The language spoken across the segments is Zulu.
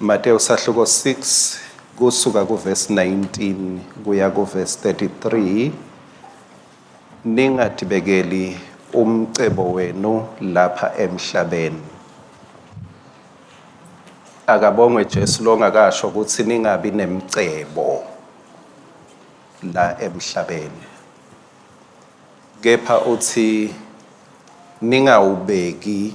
Matewu sahluko 6 kusuka kuvesi 19 kuya kuvesi 33 ningadibekeli umcebo wenu lapha emhlabeni akabongwe Jesu longakasho ukuthi ningabi nemcebo la emhlabeni kepha uthi ningawubeki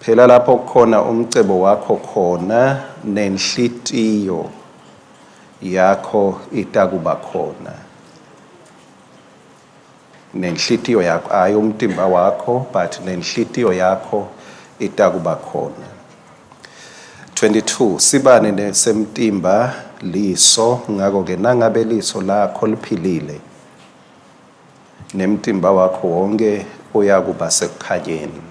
Phela lapho kukhona umcebo wakho khona nenhlitiyo yakho itakuba khona nenhlitiyo yakho hayi umtimba wakho but nenhlitiyo yakho itakuba khona 22 sibane nesemtimba liso ngako ke nangabe liso lakho liphilile Nemtimba wakho wonke uyakuba sekukhanyeni.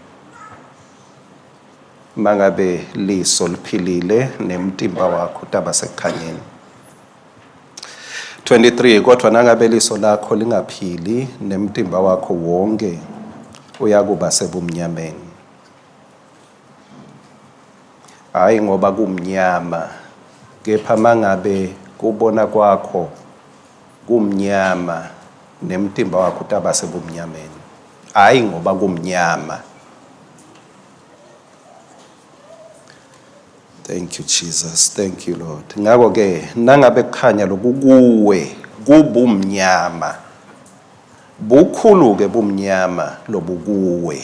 Mangabe liso liphilile nemtimba wakho utaba sekukhanyeni. 23 kodwa nangabe liso lakho lingaphili nemtimba wakho wonke uyakuba sebumnyameni. hhayi ngoba kumnyama, kepha mangabe kubona kwakho kumnyama nemtimba wakho utaba sebumnyameni, hhayi ngoba kumnyama. Thank you Jesus, thank you Lord. Ngakho ke nangabe kukhanya lokhu kuwe kubumnyama, bukhulu-ke bumnyama lobukuwe.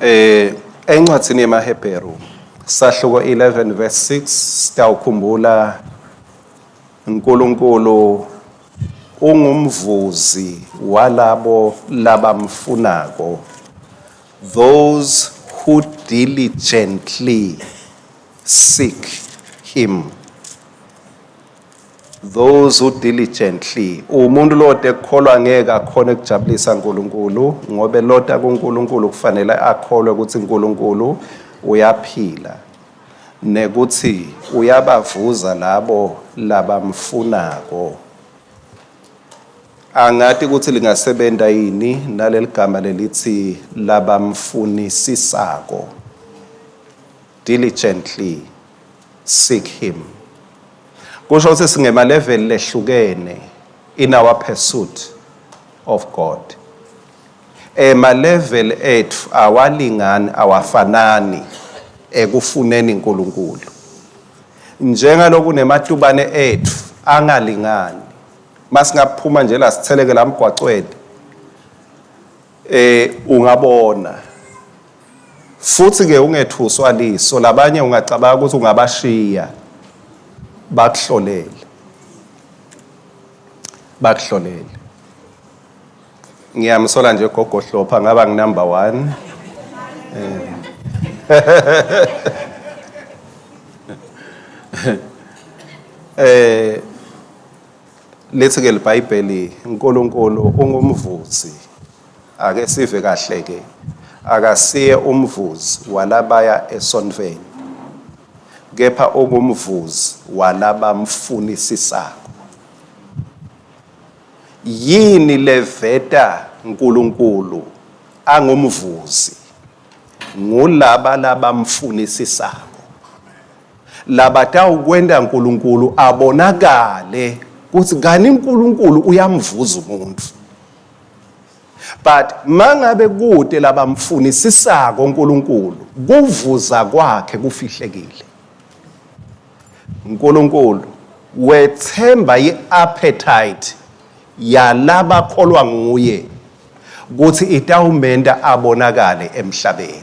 Eh encwadini yemaHebheru sahluko 11 verse 6 sitawukhumbula uNkulunkulu ungumvuzi walabo labamfunako those who diligently seek him Those who diligently. Umuntu lota ekukholwa ngeke akhona ekujabulisa uNkulunkulu ngoba elota kuNkulunkulu kufanele akholwe ukuthi uNkulunkulu uyaphila nekuthi uyabavuza labo labamfunako. Angati ukuthi lingasebenta yini naleligama lelithi labamfunisisako. Diligently. Seek him. Kusho ukuthi singema level lehlukene in our pursuit of God. Ema eh, level ethu awalingani awafanani ekufuneni uNkulunkulu. Njengalokhu nematubane ethu angalingani. Masingaphuma nje la sitheleke la mgwaqweni. Eh, ungabona. Futhi-ke ungethuswa liso labanye ungacabanga ukuthi ungabashiya bakuhlolele. Bakuhlolele. Ngiyamsola nje gogo Hlopha ngaba ngi number 1. Eh. eh Lithi ke liBhayibheli uNkulunkulu ungumvuzi. Ake sive kahle ke. Akasiye umvuzi walabaya esontweni. Kepha ungumvuzi walabamfunisisako. Yini leveta Nkulunkulu angumvuzi? Ngulaba labamfunisisako. Labatawukwenta Nkulunkulu abonakale kutsi kani Nkulunkulu uyamvuza umuntfu. But mangabe kute labamfunisisako Nkulunkulu, kuvuza kwakhe kufihlekile. Nkulunkulu wetsemba i-appetite yalabakholwa nguye kutsi itawumenta abonakale emhlabeni.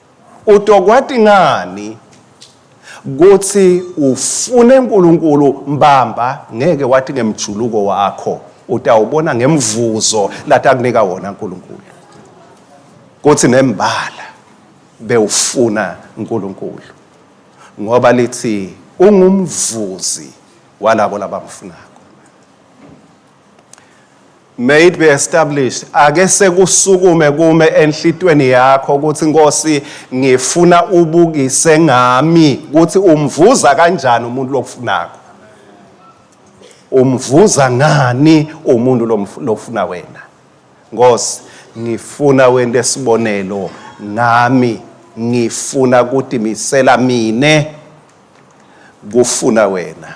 Utokwati ngani kuthi ufune uNkulunkulu mbamba ngeke wati ngemjuluko wakho utawubona ngemvuzo latakunika wona uNkulunkulu kuthi nembala bewufuna uNkulunkulu ngoba lithi ungumvuzi walabo labamfunako. May it be established. Ake sekusukume kume enhlitweni yakho ukuthi Nkosi ngifuna ubukise ngami ukuthi umvuza kanjani umuntu lokufunako. Umvuza ngani umuntu lofuna wena. Nkosi ngifuna wente sibonelo ngami ngifuna kutimisela mine kufuna wena.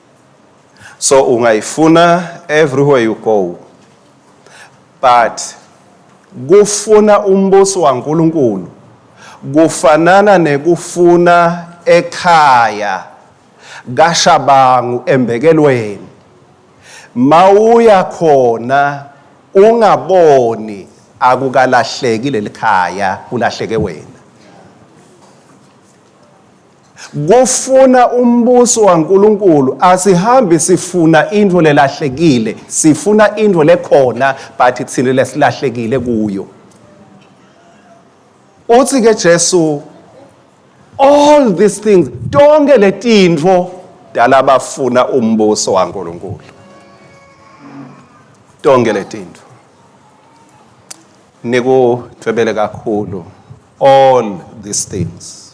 so ungayifuna everywhere you go but kufuna umbuso waNkulunkulu kufanana nekufuna ekhaya kashabangu embekelweni mawuya khona ungaboni akukalahleki lelikhaya kulahleke wena kufuna umbuso waNkulunkulu asihambi sifuna into lelahlekile sifuna into lekhona but thina lesilahlekile kuyo uthi ke Jesu all these things tonke letintfo dala bafuna umbuso waNkulunkulu tonke letintfo nikutwebele kakhulu all these things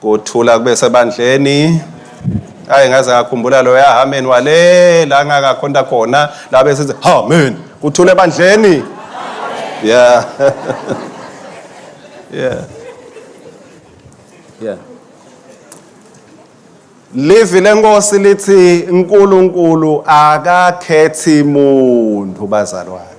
Kuthula kube sebandleni. Hayi ngaze ngakhumbula lo yahameni wale la ngakakhonta khona la bese sithi amen. Kuthule ebandleni. Yeah. yeah. Yeah. Livi lenkosi lithi uNkulunkulu akakhethi muntu bazalwane.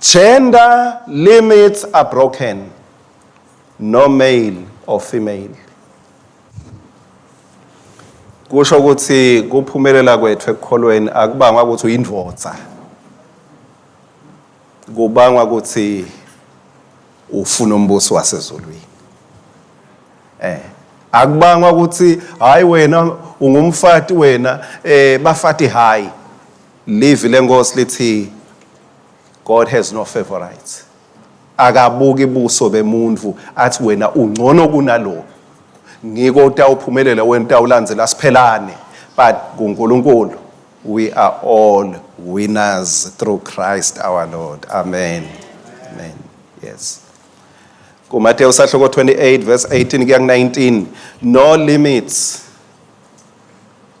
Gender limits are broken. No male or female. Kusho ukuthi kuphumelela kwethu ekukholweni akubangwa ukuthi uyindvodza. Kubangwa ukuthi ufuna umbuso wasezulwini. Eh akubangwa ukuthi hayi wena ungumfati wena eh bafati hayi Livi lenkosi lithi God has no favorites. Akabuki buso bemuntu athi wena ungcono kunalo. Ngiko utawuphumelela wena utawulandzela siphelane but kuNkulunkulu we are all winners through Christ our Lord. Amen. Amen. Yes. KuMateyu sahloko 28 verse 18 kuya ku-19 no limits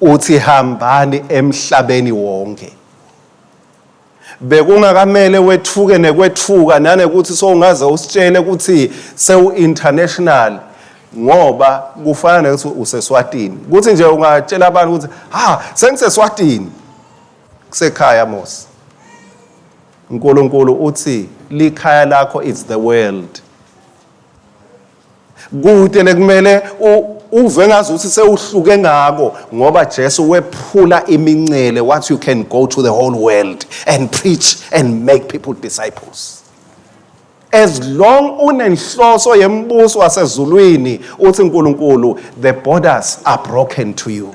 uthi hambani emhlabeni wonke bekungakamele wethuke nekwethuka nanekuthi sowungaze usitshele ukuthi sewu-international ngoba kufana nekuthi useswatini kuthi nje ungatshela abantu ukuthi ha sengiseswatini kusekhaya mos unkulunkulu uthi likhaya lakho is the world Kude lekumele uve ngazi ukuthi sewuhluke ngako ngoba Jesu wephula imincele what you can go to the whole world and preach and make people disciples as long unenhloso yembuso wasezulwini uthi uNkulunkulu the borders are broken to you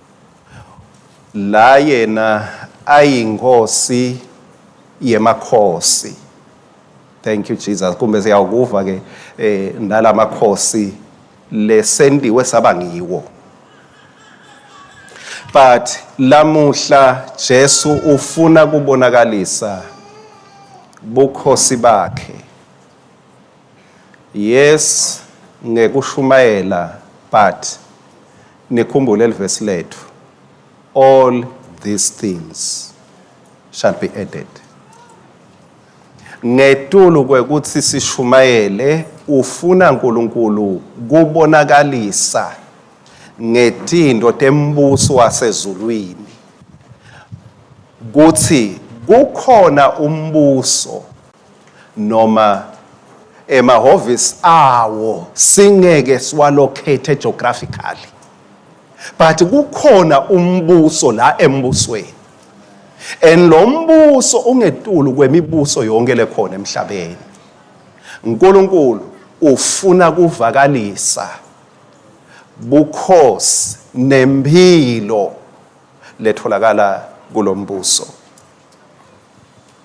La yena ayi nkosi yemakhosi. Thank you Jesus. Kumbe siyawukuva ke eh nalamakhosi lesendiwe saba ngiwo. But lamuhla Jesu ufuna kubonakalisa bukhosi bakhe. Yes ngekushumayela but nikhumbule livesi lethu all these things shall be added ngetulu kwekuthi sishumayele ufuna uNkulunkulu kubonakalisa ngetinto tembuso wasezulwini kuthi kukhona umbuso noma emahhovisi awo singeke siwalocate geographically but kukhona umbuso la embusweni and lo mbuso ungetulu kwemibuso yonke lekhona emhlabeni uNkulunkulu ufuna kuvakalisa bukhosi nempilo letholakala kulombuso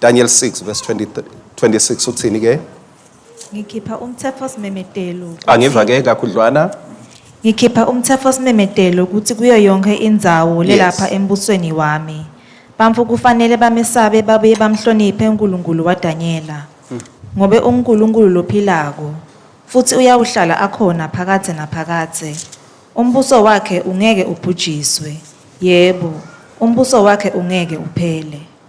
Daniel 6 verse 20, 26 uthini ke? Ngikhipha umthetho simemedelo. Angiva ke kakhudlwana. Ngikhipha umthetho simemedelo ukuthi kuyo yonke indzawo lelapha embusweni wami. Bantfu kufanele bamesabe babuye bamhloniphe uNkulunkulu waDanyela. Hmm. Ngobe uNkulunkulu lophilako futhi uyawuhlala akhona phakadze naphakadze. Umbuso wakhe ungeke ubhujiswe. Yebo, umbuso wakhe ungeke uphele.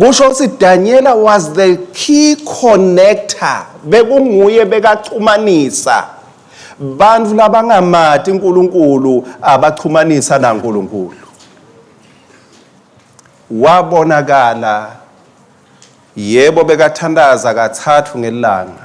kusho ukuthi danyela was the key connector bekunguye bekaxhumanisa bantu labangamati unkulunkulu abaxhumanisa nankulunkulu wabonakala yebo bekathandaza kathathu ngelanga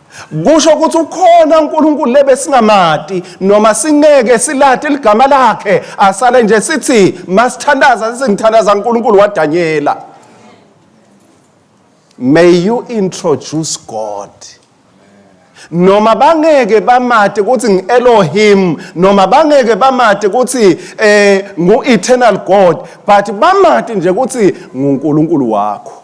kusho ukuthi ukhona uNkulunkulu lebesingamati noma singeke silate ligama lakhe asale nje sithi masithandaza singithandaza uNkulunkulu waDanyela may you introduce God noma bangeke bamade ukuthi ngi-elohim noma bangeke bamade ukuthi eh ngu-eternal god but bamade nje ukuthi ngunkulunkulu wakho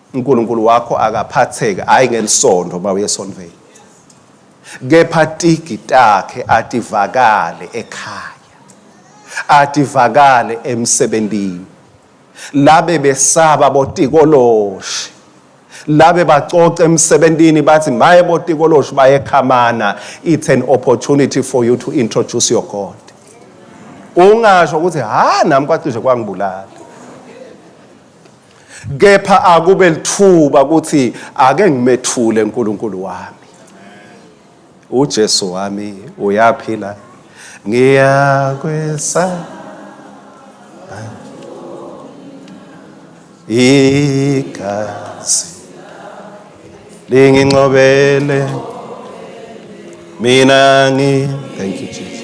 uNkulunkulu wakho akaphatheke hayi ngelisondo uma uyesonveni kepha tigi takhe ativakale ekhaya ativakale emsebenzini labe besaba botikoloshi labe bacoca emsebenzini bathi maye botikoloshi bayekhamana it's an opportunity for you to introduce your god ungasho ukuthi ha nami kwacishe kwangibulala kepha akube lithuba ukuthi ake ngimethule uNkulunkulu wami uJesu wami uyaphila ngiyakwesa igazi linginqobele mina ngi thank you Jesus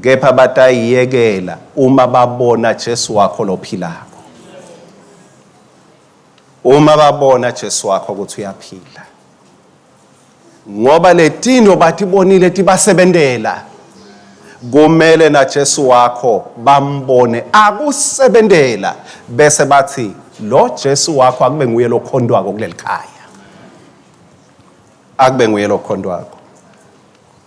Kepha batayiyekela uma babona Jesu wakho lophilako. Uma babona Jesu wakho ukuthi uyaphila. Ngoba letinto batibonile tibasebentela. Kumele na Jesu wakho bambone akusebentela bese bathi lo Jesu wakho akube nguye lokhontwako kulelikhaya. Akube nguye lokhontwako.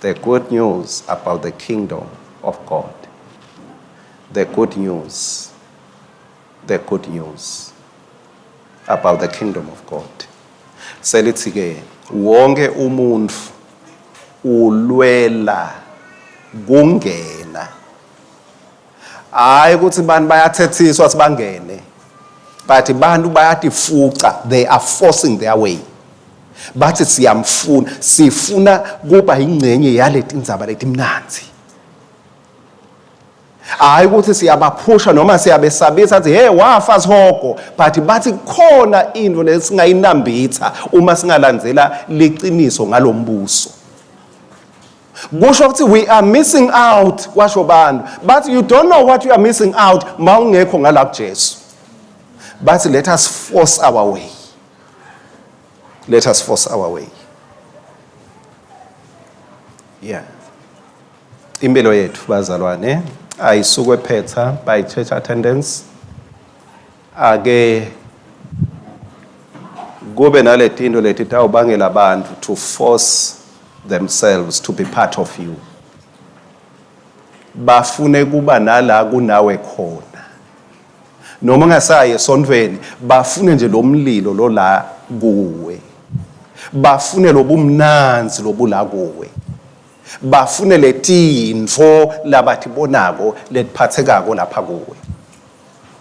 The good news about the kingdom of God. The good news. The good news about the kingdom of God. Selithi ke wonke umuntu ulwela kungena hayi ukuthi abantu bayathethiswa ukuthi bangene but abantu bayatifuca they are forcing their way bathi siyamfuna sifuna kuba yingcenye yaleti ndzaba letimnanzi hayi ukuthi siyabaphusha noma siyabesabisa athi hey wafa sihogo but bathi khona into lesingayinambitha uma singalandzela liqiniso ngalombuso kusho ukuthi we are missing out kwasho abantu but you don't know what you are missing out ma ungekho ngala kujesu bathi let us force our way let us force our way yeah impilo yethu bazalwane ayisukwe phetha by church attendance Ake kube naletinto leti tawubangela bantfu to force themselves to be part of you bafune kuba nala kunawe khona noma ungasayi esontweni bafune nje lo mlilo lo la kuwe bafune lobumnanzi lobula kuwe bafune letintfo labatibonako letiphathekako lapha kuwe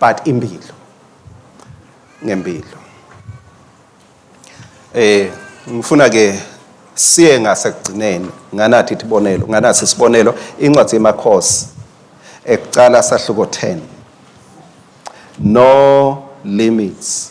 but impilo ngempilo eh ngifuna ke siye ngasekugcineni nganathi isibonelo nganasi isibonelo incwadi yemakhosi ekucala sahluko 10 no limits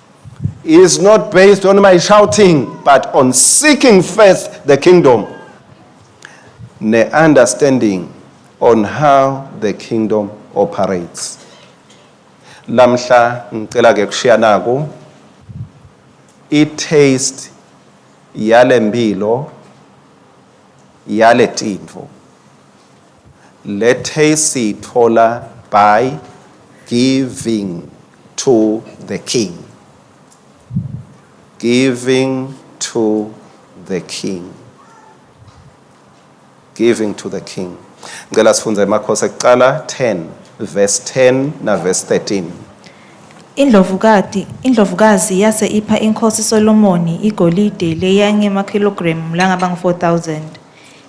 is not based on my shouting but on seeking first the kingdom ne understanding on how the kingdom operates lamhla ngicela ke kushiya naku i taste yale mpilo yale tintfo Le tea siyithola by giving to the king. Giving to the king. Giving to the king. Ngicela sifunde emakhosi ekuqala 10 verse 10 na verse 13. Indlovukati, indlovukazi yase ipha inkosi Solomoni igolide leyange makhilogramu langaba ngu-4000.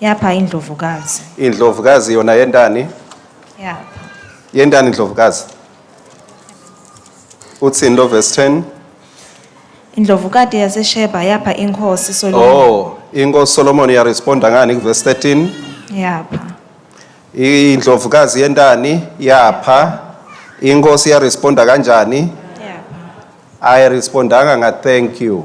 Yapha indlovukazi. Indlovukazi yona yentani? Yapha. Yentani indlovukazi? Uthini lo verse 10? Indlovukati yaseSheba yapha inkosi Solomon. Oh, inkosi Solomon yaresponda ngani kuverse 13? Yapha. Indlovukazi yentani yapha inkosi yaresponda kanjani? Yapha. Ayirespondanga nga thank you.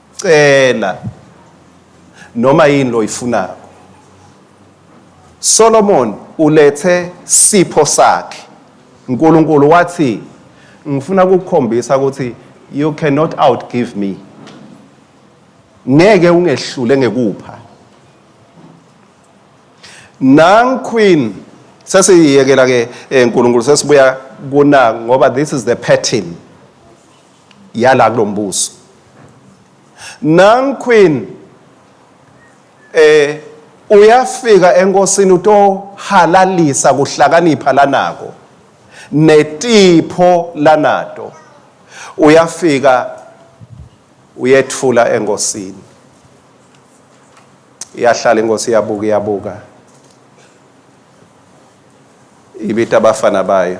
cela noma yini loyifunako Solomon ulethe sipho sakhe uNkulunkulu wathi ngifuna ukukukhombisa ukuthi you cannot outgive me ngeke ungehlule ngekupha nang queen sesiyekela ke enkulunkulu eh, sesibuya kuna ngoba this is the pattern yala kulombuso Nang Queen eh uyafika enkosini utohalalisa kuhlakanipha lanako netipho lanato uyafika uyethula enkosini iyahlala inkosi iyabuka iyabuka ibita abafana bayo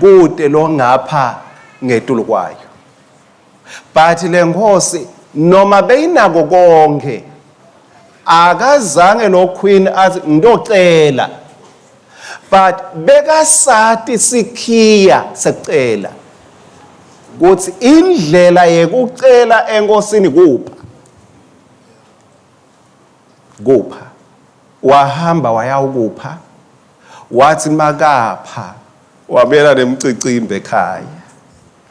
kude lo ngapha ngetulu kwayo but le nkosi noma beyinako konke akazange lo queen athi ngitocela but bekasati sikhiya sekucela ukuthi indlela yekucela enkosini kupha kupha wahamba wayawukupha Wathi makapha wabuyela nemcicimba ekhaya.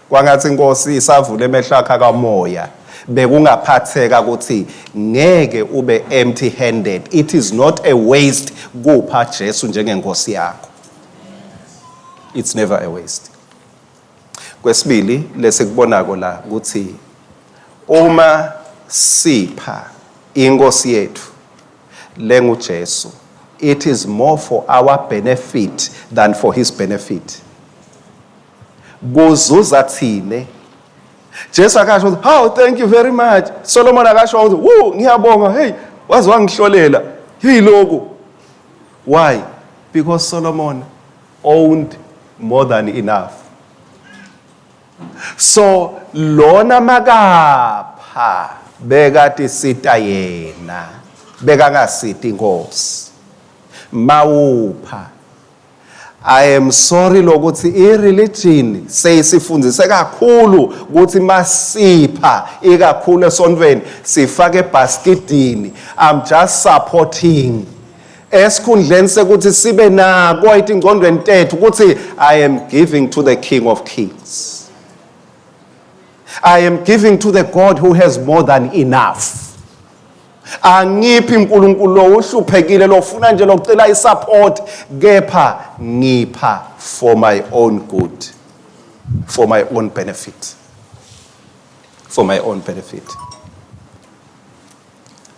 Kwangathi inkosi isavula emehlo akhe akamoya. Bekungaphatheka ukuthi ngeke ube empty handed. It is not a waste kupha Jesu njengenkosi yakho. It's never a waste. Kwesibili lesikubonako la kutsi uma sipha iNkhosi yetfu lenguJesu it is more for our benefit than for his benefit. Kuzuza tsine. Jesu akasho ukuthi hawu thank you very much. Solomon akasho ukuthi wu ngiyabonga hey waze wangihlolela. Hey loku. Why? Because Solomon owned more than enough so lona makapha bekati sita yena bekangasiti inkosi mawupha I am sorry lokuthi ireligion seyisifundise kakhulu ukuthi masipha ikakhulu esontweni sifake ebhaskidini I'm just supporting esikhundleni sekuthi sibe nako itingcondweni tethu ukuthi i am giving to the king of kings i am giving to the god who has more than enough angiphi unkulunkulu lo uhluphekile lofuna nje lokucela isupport kepha ngipha for my own good for my own benefit for my own benefit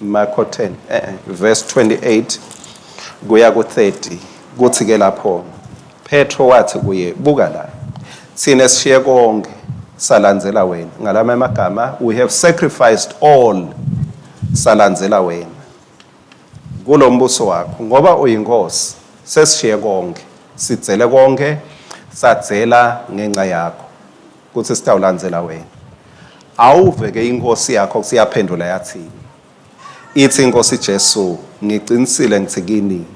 Marko 10 eh, eh verse 28 kuya ku-30 kuthi ke lapho Petro wathi kuye buka la thina sishiye konke salandzela wena ngalama amagama we have sacrificed all salandzela wena kulo mbuso wakho ngoba uyinkosi sesishiye konke sidzele konke sadzela ngenxa yakho kuthi sitawulandzela wena awuve ke inkosi yakho kusiyaphendula yathini ithi inkosi Jesu ngiqinisile ngithi kini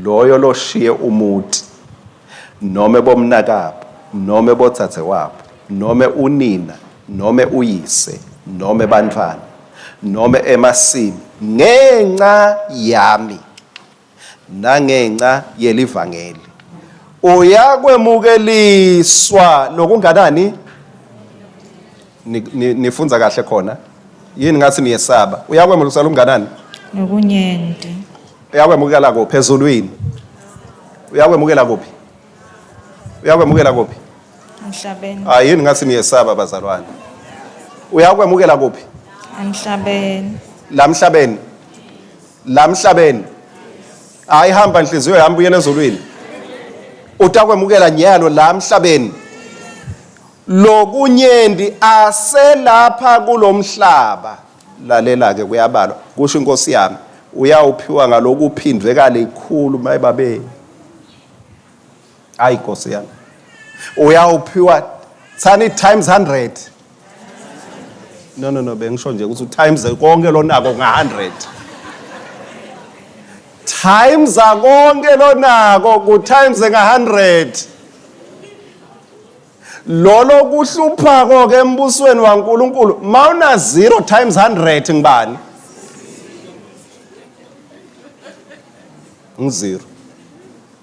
loyo loshiye umuti noma bomnakabo noma bothathe wabo noma unina noma uyise noma bantwana noma emasimi ngenxa yami nangenxa yelivangeli uyakwemukeliswa nokunganani nifunza kahle khona yini ngathi niyesaba uyakwemukeliswa lokunganani nokunyenti uyakwemukela kuphi ezulwini uyakwemukela kuphi uyakwemukela kuphi emhlabeni ah yini ngathi niyesaba bazalwane uyakwemukela kuphi emhlabeni la mhlabeni la mhlabeni hayi hamba nhliziyo yami buyela ezulwini utakwemukela nyalo la mhlabeni lokunyendi aselapha kulomhlaba lalela ke kuyabalwa kusho inkosi yami uyawuphiwa ngalokuphindwe kalikhulu mayibabe Hayi Nkosi yami. Uyawuphiwa thani times 100. No no no bengisho nje ukuthi times konke lonako nga100. Times konke lonako ku times nga100. Lolo kuhlupha konke embusweni waNkuluNkulu mawuna 0 times 100 ngibani? Ngizero.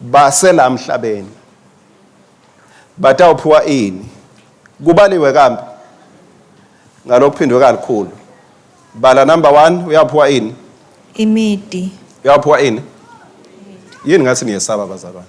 basela mhlabeni batawuphiwa ini kubaliwe kambe ngalokuphindwe kalikhulu bala number 1 uyaphiwa ini imidi uyaphiwa ini yini ngathi niyesaba bazalwane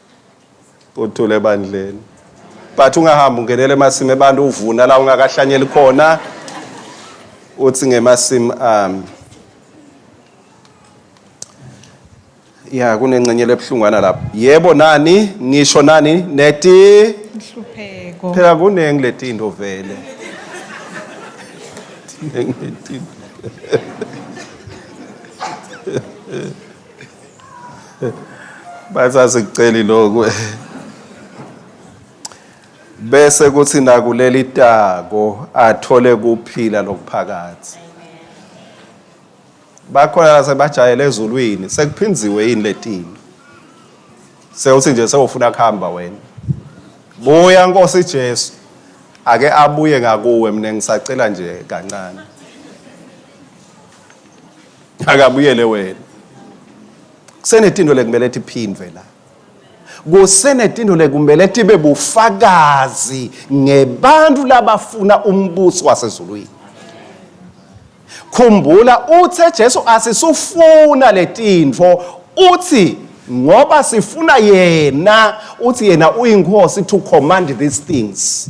uthule ebandleni but ungahambi ungenele emasimi abantu uvuna la ungakahlanyeli khona uthi ngemasimi ami um, ya kunengcenye lebuhlungwana lapho yebo nani ngisho nani neti inhlupheko phela kuningi letinto vele basasikuceli lokhu bese kuthi nakuleli tako athole kuphila lokuphakathi bakhona la sebajayele ezulwini sekuphinziwe yini letini sewuthi nje sewufuna kuhamba wena buya nkosi Jesu ake abuye ngakuwe mina ngisacela nje kancane akabuyele wena kusenetinto lekumele tiphindvwe la kusenetinto lekumele tibe bufakazi ngebantu labafuna umbuso wasezulwini khumbula uthe Jesu asisufuna letintfo uthi ngoba sifuna yena uthi yena uyinkosi to command these things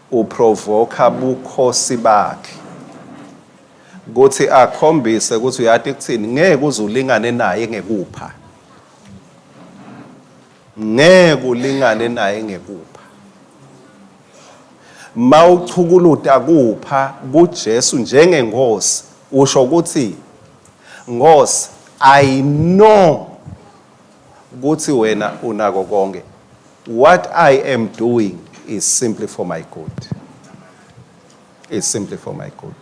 Uprovoka bukhosi bakhe kuthi akhombise ukuthi uyati kuthini ngeke uze ulingane naye ngekupha ngeke ulingane naye ngekupha mawuchukuluta kupha kuJesu njengenkosi usho ukuthi Nkosi, I know kuthi wena unako konke what i am doing is simply for my good is simply for my good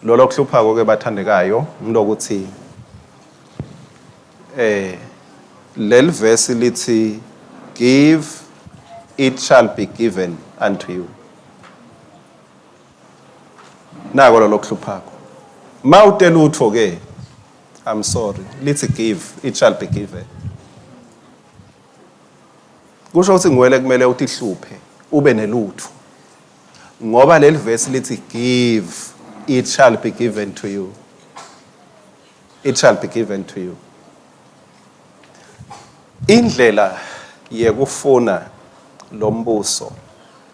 lolo kuhluphako ke bathandekayo ngilokuthi eh leli verse lithi give it shall be given unto you nako lolo kuhluphako mawute lutho ke I'm sorry. Lithi give, it shall be given. Kusho ukuthi ngwele kumele utihluphe ube nelutho. Ngoba leli verse lithi give, it shall be given to you. It shall be given to you. Indlela yekufuna lombuso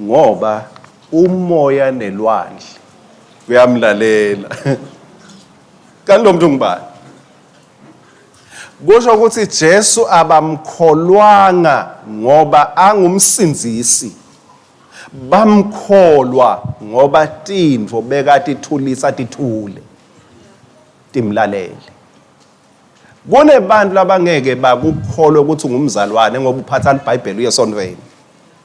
Ngoba umoya nelwandle kuyamlalela. Kanti lo muntu ngubani? Kusho ukuthi Jesu abamkholwanga ngoba angumsindisi. Bamkholwa ngoba tintfo bekatithulisa tithule. Timlalele. Kunebantu labangeke bakukholwe ukuthi ungumzalwane ngoba uphatha liBhayibheli uye esontweni.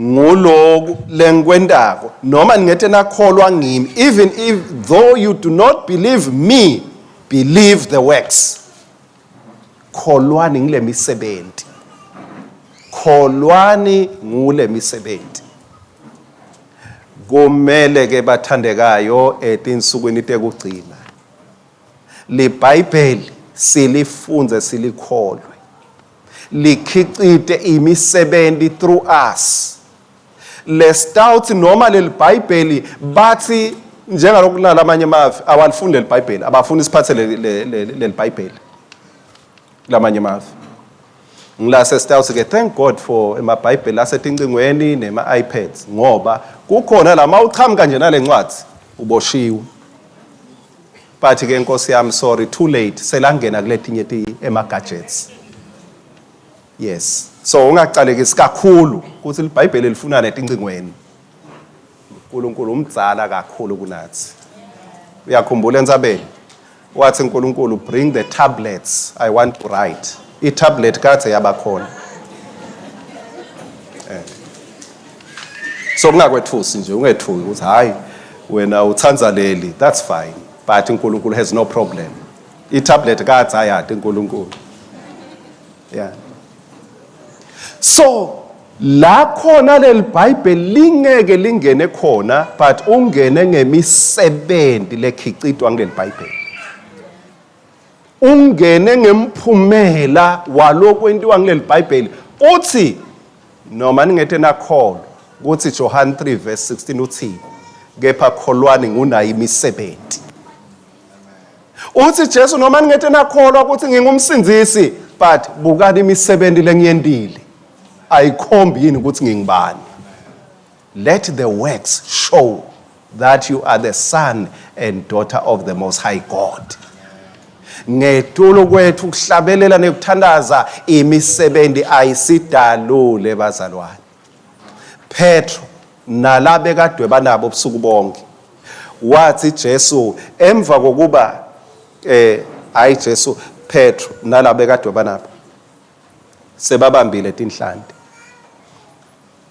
nguloku lengikwentako noma ningete nakholwa ngimi even if though you do not believe me believe the works kholwani ngile misebenzi kholwani ngule misebenzi kumele ke bathandekayo etinsukwini tekugcina libhayibheli silifunze silikholwe likhicite imisebenzi through us le stout noma leli bhayibheli bathi njengalokhu kunala amanye amavi awalifundi leli bhayibheli abafuni isiphathe leli bhayibheli kulamanye amavi ngilase stout ke thank god for emabhayibheli asetincingweni nema-ipads ngoba kukhona la ma uchamuka nje nale ncwadi uboshiwe But ke nkosi yami sorry too late selangena kuletinye ti ema gadgets. Yes. So ungaqalekisi kakhulu ukuthi iBhayibheli lifuna netincingweni. uNkulunkulu umdzala kakhulu kunathi. Uyakhumbula entsabeni? Wathi uNkulunkulu bring the tablets I want to write. I-tablet kade yabakhona. Eh. so kungakwethusi nje ungethuki ukuthi hayi wena uthanda leli that's fine but uNkulunkulu has no problem itablet kathi ayade uNkulunkulu yeah so la khona leli bhayibheli lingeke lingene khona but ungene ngemisebenzi lekhicitwa kuleli bhayibheli ungene ngemphumela walokhu entiwa kuleli bhayibheli uthi noma ningethe nakholwa ukuthi johane 3 verse 16 uthini kepha kholwani ngunayo imisebenzi uthi jesu noma ningethe nakholwa ukuthi ngingumsindisi but bukani imisebenzi lengiyendile ayikhombi yini ukuthi ngingibani Let the works show that you are the son and daughter of the most high God. Ngetulo kwethu kuhlabelela nekuthandaza imisebenzi ayisidalule bazalwane. Petro nalabe kadwe banabo ubusuku bonke. Wathi Jesu emva kokuba eh hayi Jesu Petro nalabe kadwe banabo sebabambile tinhlanti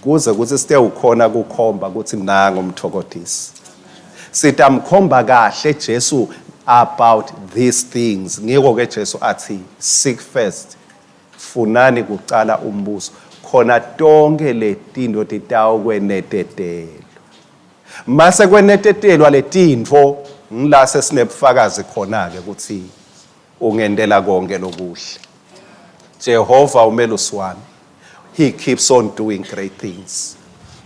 kuze kuthi site ukhona kukhomba ukuthi nango umthokothisi sithi amkhomba kahle Jesu about these things ngiko ke Jesu athi seek first funani kuqala umbuso khona tonke letinto titawukwenetetelwa mase kwenetetelwa letintfo ngila sesinebufakazi khona-ke ukuthi ungentela konke lokuhle jehova umelusi wami He keeps on doing great things.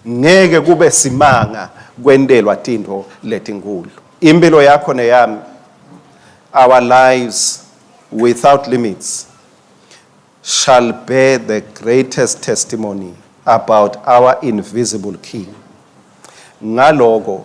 Ngeke kube simanga kwentelwa tintfo letinkulu. Impilo yakho neyami, our lives without limits, shall bear the greatest testimony about our invisible King. Ngaloko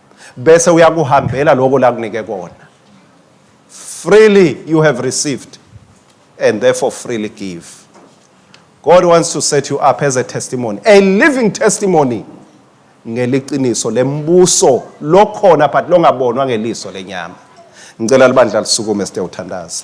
bese uyakuhambela lokho lakunike kona freely you have received and therefore freely give god wants to set you up as a testimony a living testimony ngeliqiniso lembuso lokhona but longabonwa ngeliso lenyama ngicela libandla lisukume sitewuthandaza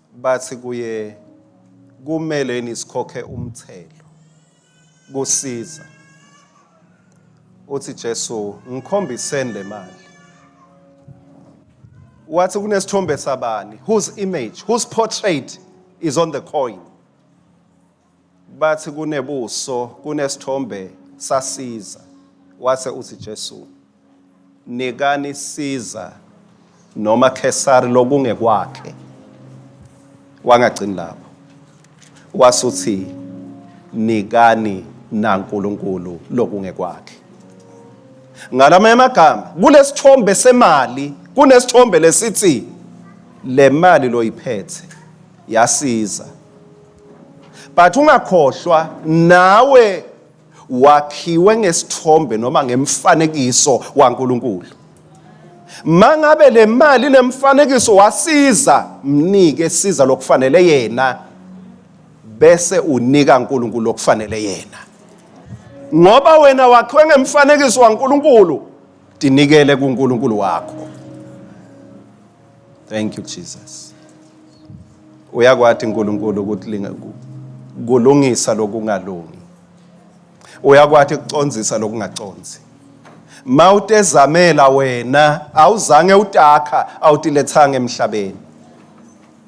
bathi kuye kumele yini sikhokhe umthelo kusiza uthi Jesu ngikhombiseni le mali wathi kunesithombe sabani whose image whose portrait is on the coin bathi kunebuso kunesithombe sasiza wase uthi Jesu nikani siza noma Kesari lokungekwakhe wangagcini lapho wasuthi nikani naNkulunkulu lokungekwakhe ngalama amagama kulesithombe semali kunesithombe lesithi le mali loyiphethe yasiza but ungakhohlwa nawe wakhiwe ngesithombe noma ngemfanekiso waNkulunkulu mangabe le mali nemfanekiso wasiza mnike siza lokufanele yena bese unika uNkulunkulu lokufanele yena ngoba wena wakhiwe ngemfanekiso waNkulunkulu tinikele kuNkulunkulu wakho Thank you Jesus. Uyakwati uNkulunkulu ukuthi linga- ku- kulungisa lokungalungi. Uyakwati kucondzisa lokungaconzi. Ma utezamela wena awuzange utakha awutilethanga emhlabeni.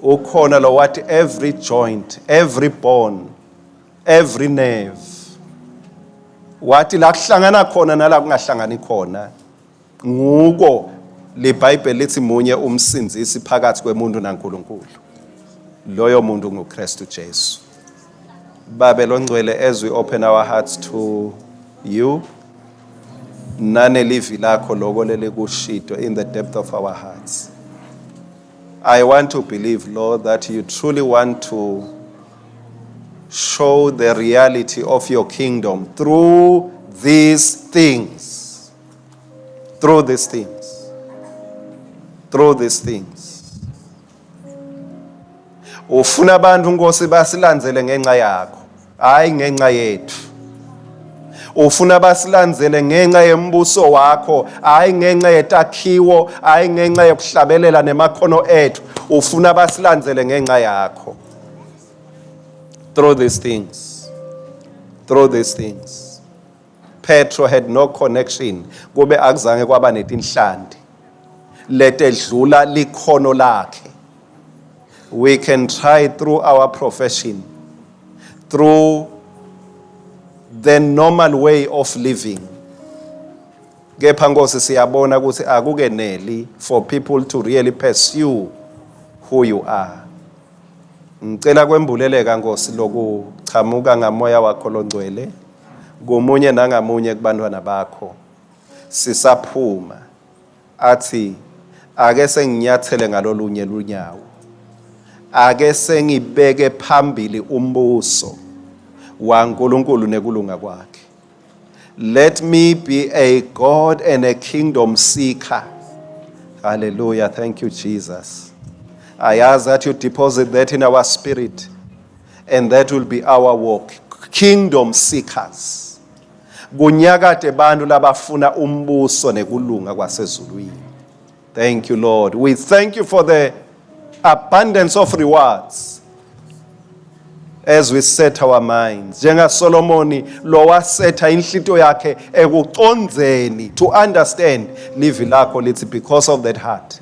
Ukhona lo wathi every joint, every bone, every nerve. Wathi la kuhlangana khona nala kungahlangani khona Nguko liBhayibheli lithi munye umsindisi phakathi kwemuntu naNkulunkulu. Loyo muntu nguKristu Jesu. Babe longcwele as we open our hearts to you nanelivi lakho loko lelikushito in the depth of our hearts. I want to believe, Lord, that you truly want to show the reality of your kingdom through these things. Through these things. Through these things. Ufuna abantu Nkosi basilandzele ngenxa yakho, hayi ngenxa yethu. Ufuna basilandzele ngenxa yembuso wakho, hayi ngenxa yetakhiwo, hayi ngenxa yokuhlabelela nemakhono ethu. Ufuna basilandzele ngenxa yakho. Through these things. Through these things. Petro had no connection kube akuzange kwaba netinhlanti letedlula likhono lakhe we can try through our profession through the normal way of living kepha nkosi siyabona ukuthi akukeneli for people to really pursue who you are ngicela kwembuleleka nkosi lokuchamuka ngamoya wakho longcwele komunye nangamunye kubantwana bakho sisaphuma athi ake senginyathele ngalolunye lunyawo ake sengibeke phambili umbuso waNkulunkulu nekulunga kwakhe let me be a god and a kingdom seeker hallelujah thank you jesus i ask that you deposit that in our spirit and that will be our walk kingdom seekers kunyakade bantu labafuna umbuso nekulunga kwasezulwini thank you lord we thank you for the abundance of rewards as we set our minds njengasolomoni lo wasetha inhlito yakhe ekucondzeni to understand livi lakho lithi because of that heart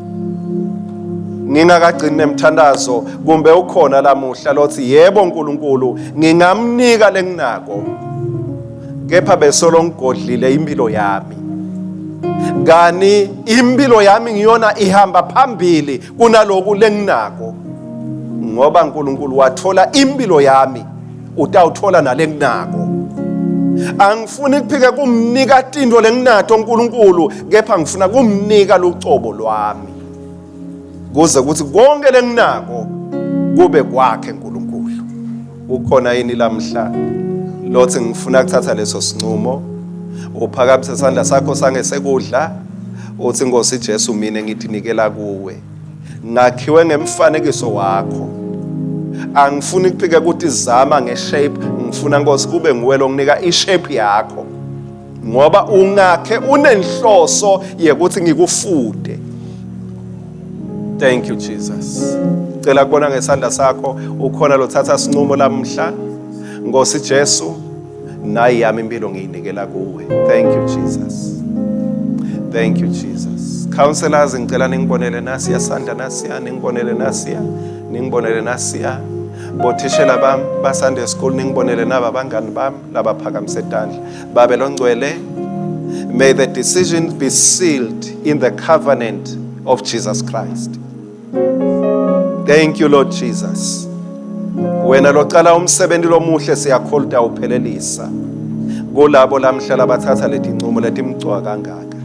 ngingakagcini nemthandazo kumbe ukhona lamuhla lothi yebo uNkulunkulu ngingamnika lenginako kepha besolo ngigodlile impilo yami kani impilo yami ngiyona ihamba phambili kunaloku lenginako ngoba uNkulunkulu wathola impilo yami utawutfola nalenginako angifuni kuphike kumnika tintfo lenginatho uNkulunkulu kepha ngifuna kumnika lucobo lwami kuze kuthi konke lenginako kube kwakhe uNkulunkulu ukhona yini lamhla lothi ngifuna kuthatha leso sinqumo uphakamise isandla sakho sangesekudla uthi Nkosi Jesu mina ngithinikela kuwe ngakhiwe ngemfanekiso wakho angifuni kuphike ukuthi zama ngeshape ngifuna nkosi kube nguwe longinika ishape yakho ngoba ungakhe unenhloso yekuthi ngikufude thank you jesus cela kubona ngesandla sakho ukhona lothatha sinqumo lamhla nkosi jesu nayi yami impilo ngiyinikela kuwe thank you jesus thank you jesus counselors ngicela ningibonele nasiya sandla nasiya ningibonele nasiya ningibonele nasiya bothishela bami basande school ningibonele naba bangani bami labaphakamise etandla babe longcwele may the decision be sealed in the covenant of jesus christ Thank you Lord Jesus. Wena locala umsebenzi lomuhle siyakholta uphelelisa. Kulabo lamhlala bathatha leti ncumo letimgcwa kangaka.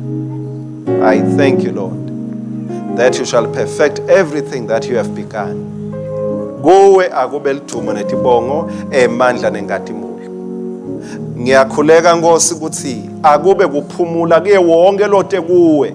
I thank you Lord that you shall perfect everything that you have begun. Kuwe akube lidumo netibongo emandla nengadimulo. Ngiyakhuleka Nkosi ukuthi akube kuphumula kuye wonke lote kuwe.